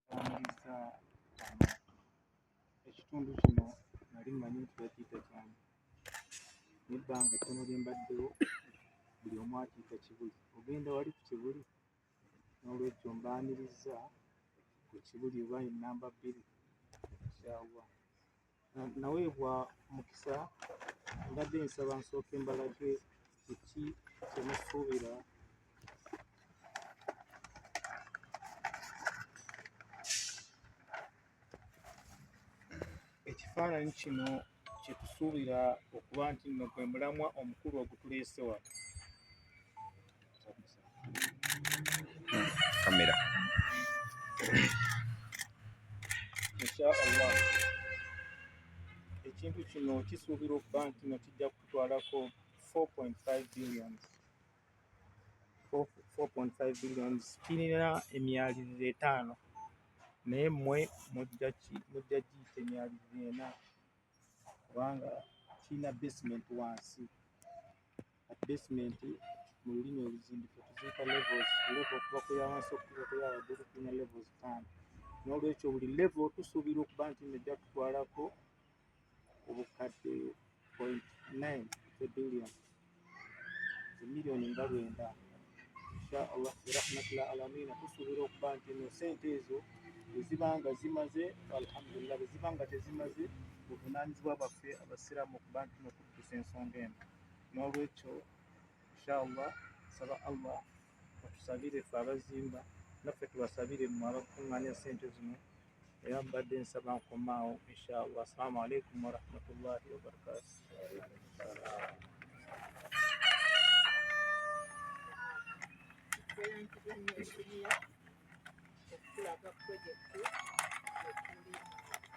Bamulisa amaato. Ekitundu kino nali mmanyi nti bakiyita Kyanya naye ebbanga ttono lye mbaddewo buli omu akiyita Kibuli. Ogenda wali ku Kibuli? Noolwekyo mbaanirizza ku Kibuli oba ye nnamba bbiri, nkyawa. naweebwa mukisa mbadde nsaba nsooke mbalage kiki kyemusuubira ekifaananyi kino kyetusuubira okuba nti nno gwe mulamwa omukulu ogutuleese wano kamera inshaallah ekintu kino kisuubira okuba nti no kijja kutwalako 4.5 billion 4.5 billion kirina emyaliriro etaano naye mwe mujja giyita emyaliriro ena kubanga kirina basement wansi at basement mu lulimi oluzimbi ffe tuziika levels level okuva ku ya wansi okutuuka ku ya waggulu tulina levels ttaano n'olwekyo buli level tusuubira okuba nti nno ejja tutwalako obukadde point nine e billion emiliyoni nga lwenda insha allah birahmatullah alamina tusuubira okuba nti nno sente ezo eziba nga zimaze alhamdulillah bweziba nga tezimaze buvunaanyizibwa bwaffe abasiraamu okuba nti nno tukusa ensonga eno n'olwekyo inshallah nsaba allah atusabire fe abazimba naffe tubasabire mwe abakunganya sente zino era mbadde nsaba nkomaawo inshallah assalamu alaikum warahmatullahi wabarakatu okulaga pulojekiti ekuli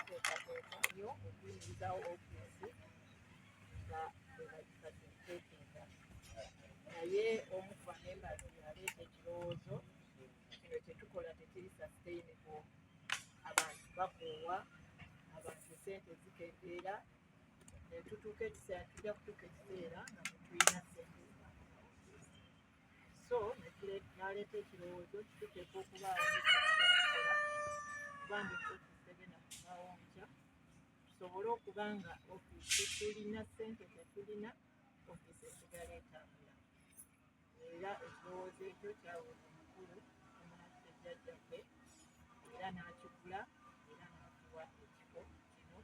teekateeka nyo okuyingizawo ofiisi nga bwebagifacilitetinga naye omu ku bamembazi yaleeta ekirowoozo kino kyetukola tekiri sustainable abantu bakoowa abantu sente zikendeera netutuuka ekiseera tujja kutuuka ekiseera nga tetulina sente so naleeta ekirowoozo kituteeka okubaawo kuba ndi tusobole okuba nga ofiisi tulina ssente tetulina ofiisi esigala etambula era ekirowoozo ekyo kyaweebwa omukulu omunafuke jjajjaffe era n'akigula era n'atuwa ekifo kino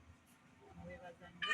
mwebaza nnyo